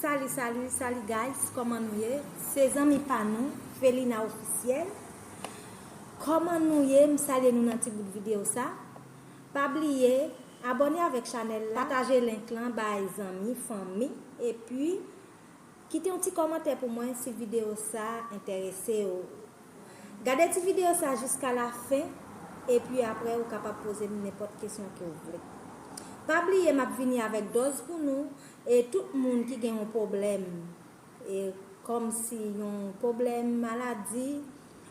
Salut salut salut guys kòman nou ye se zanmi pa nou felina officiel kòman nou ye m salye nou nan ti bout video sa. Pa bliye Abòne avèk chanèl la. Pataje link lan bay zanmi, fanmi epi Kite yon ti kòmantè pou mwen si video sa entèrese w. Gade ti video sa jiska la fen epi aprè ou kapab poze m nenpòt kesyon ke w vle. Pa bliye map vini avèk dòz pou nou e tout moun ki gen yon pwoblèm e kòm si yon pwoblèm maladi,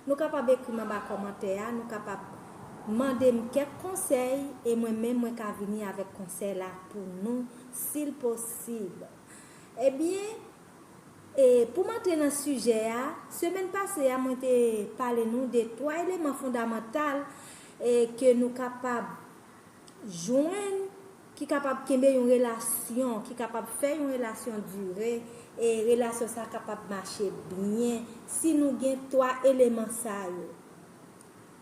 Nou kapab ekri m anba kòmantè a, nou kapab Mande m kèk konsèy e mwen menm mwen ka vini avèk konsèy la pou nou sil posib Ebyen e pou m antre nan sijè a, semèn pase a mwen te pale nou de 3 eleman fondamantal e ke nou kapab jwenn Ki kapab kenbe yon relasyon, ki kapab fè yon relasyon dire, e relasyon sa kapab mache byen si nou gen 3 eleman sa yo.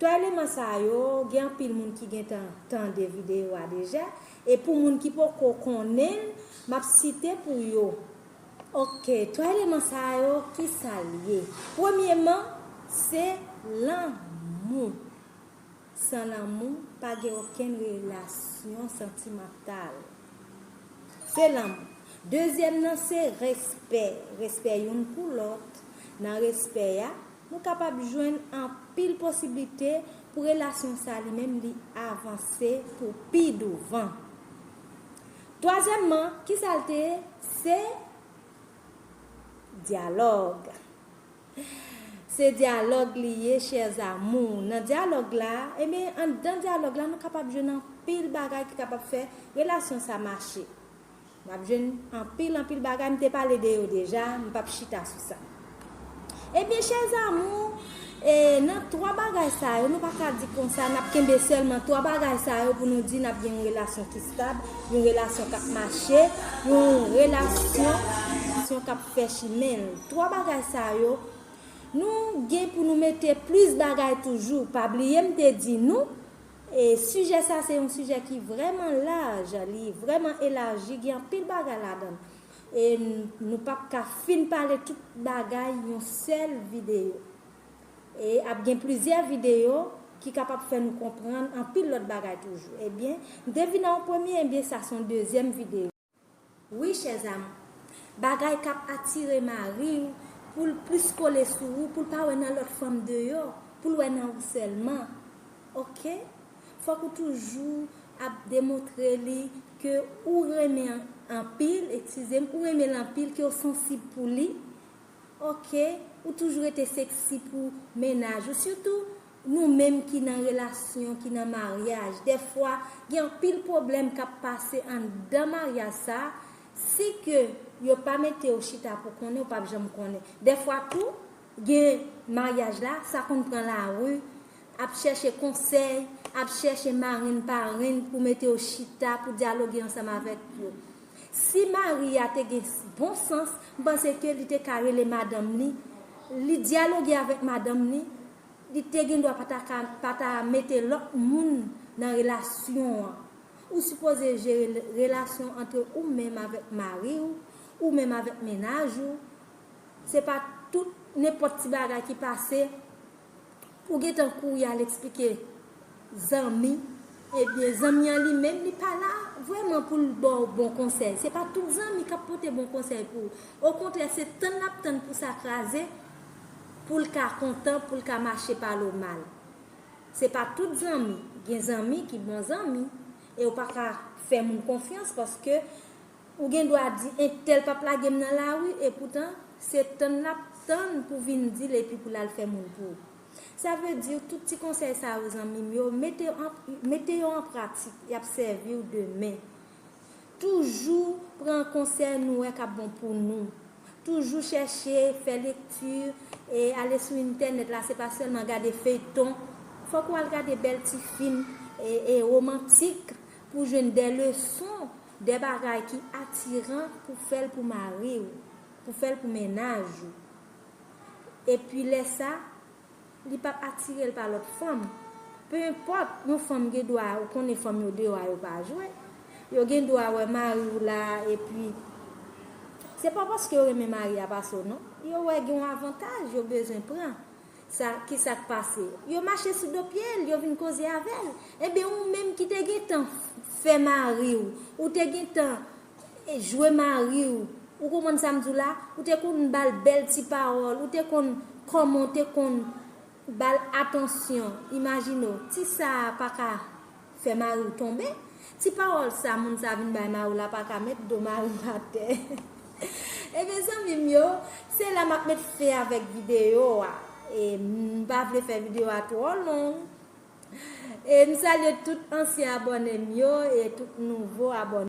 3 eleman sa yo, gen anpil moun ki gentan tande videyo a deja, e pou moun ki poko konnen l, m ap site pou yo. Ok, 3 eleman sa yo, kisa l ye? Premyeman, se lanmou. San lanmou, pa gen okenn relasyon santimantal. Se lanmou. Dezyèm nan se respè. Respè youn pou lòt. Nan respè a, nou kapab jwenn anpil posiblite pou relasyon sa li menm li avanse pou pi douvan. Twazyèmman, ki sa l te ye? Se dyalòg. Se dyalòg li ye chers amours. Nan dyalòg la, enben anndan dyalòg la nou kapab jwenn anpil bagay ki kapab fè relasyon sa mache. Nap jwenn anpil anpil bagay, m te pale de yo deja, m pap chita sou sa. Ebyen chers amours, e nan 3 bagay sa yo, nou pa ka di konsa nap kenbe sèlman 3 bagay sa yo pou nou di nap gen yon relasyon ki stab, yon relasyon kap mache, yon relasyon kap. fè chimen l. Twa bagay sa yo, nou gen pou nou mete plis bagay toujou. Pa bliye m te di nou, sijè sa se yon sijè ki vrèman laj, li vrèman elaji, gen anpil bagay ladan l. E nou p ap ka fin pale tout bagay yon sèl videyo. E ap gen plizyè videyo ki kapab fè nou konprann anpil lòt bagay toujou. Ebyen, m te vin nan yon premye, ebyen sa se yon dezyèm videyo. Wi chè zam. Bagay kap atire mariw poul plis kole sou ou poul pa wè nan lòt fanm deyò poul wè nan ou sèlman ok fòk ou toujou ap demontre li ke ou renmen anpil ekskizem ou renmenl anpil kew sansib pou li ok ou toujou rete seksi pou mennaj ou sitou Nou menm ki nan relasyon, ki nan maryaj, dèfwa gen anpil pwoblèm k ap pase anndan maryaj sa, si ke yo pa mete w chita pou konnen w p ap janm konnen. Dèfwa tou, gen maryaj la, sa konn pran lari, ap chèche konsèy, ap chèche marenn parenn pou mete yo chita, pou dyaloge ansanm avèk yo. Si mari a te gen bon sans, m panse ke li te ka rele madanm li, li dyaloge avèk madanm li, Li te gendwa pa ta ka pa ta mete lòt moun nan relasyon an. Ou sipoze jere relasyon antre ou menm avèk mari w, ou menm avèk mennaj ou. Se pa tout, nenpòt ti bagay ki pase, ou gentan kouri al eksplike Zanmi, Ebyen zanmi an li menm li pa la vrèman pou l ba w bon konsèy. Se pa tout zanmi k ap pote bon konsèy pou ou. Okontrè se tann l ap tann pou sa kraze pou l ka kontan, pou l ka mache pale w mal. Se pa tout zanmi, gen zanmi ki bon zanmi e ou pa ka fè moun konfyans paske ou gen dwa di entèl p ap lage m nan lari epoutan se tann l ap tann pou vin di l epi pou l al fè moun pou ou. Sa vle di tout ti konsèy sa yo zanmi m yo mete yo an pratik yap sèvi w demen. Toujou pran konsèy nou wè kap bon pou nou. Toujou chèche fè lekti e ale sou entènèt la se pa sèlman gade feyton fòk ou al gade bèl ti fim e romantik pou jwenn de leson de bagay ki atiran pou fèl pou mari w pou fèl pou mennaj ou. epi lè sa li pap atirel pa lòt fanm pe enpòt yon fanm gen dwa ou konnen fanm yo deyò a yo pa jwe yo gen dwa wè mariw la epi se pa paske yo renmen mari a pase w non yo wè gen yon avantaj yo bezwen pran sa kisak pase yo mache sou do pyel yo vin koze avèl enben ou menm ki te gentan fè mariw ou te gentan jwe mari w, ou konprann sa m di w la, ou te konn ba l bèl ti pawòl, ou te konn kòman w te konn ba l atansyon, imajine w, ti sa a pa ka fè mari w tonbe, ti pawòl sa moun sa a vin bay mari w la pa ka met do mari w atè. Ebyen zanmi m yo, se la m ap met fen avèk videyo a, m pa vle fè videyo a twò long. E m salye tout ansyen abòne m yo e tout nouvo abòne.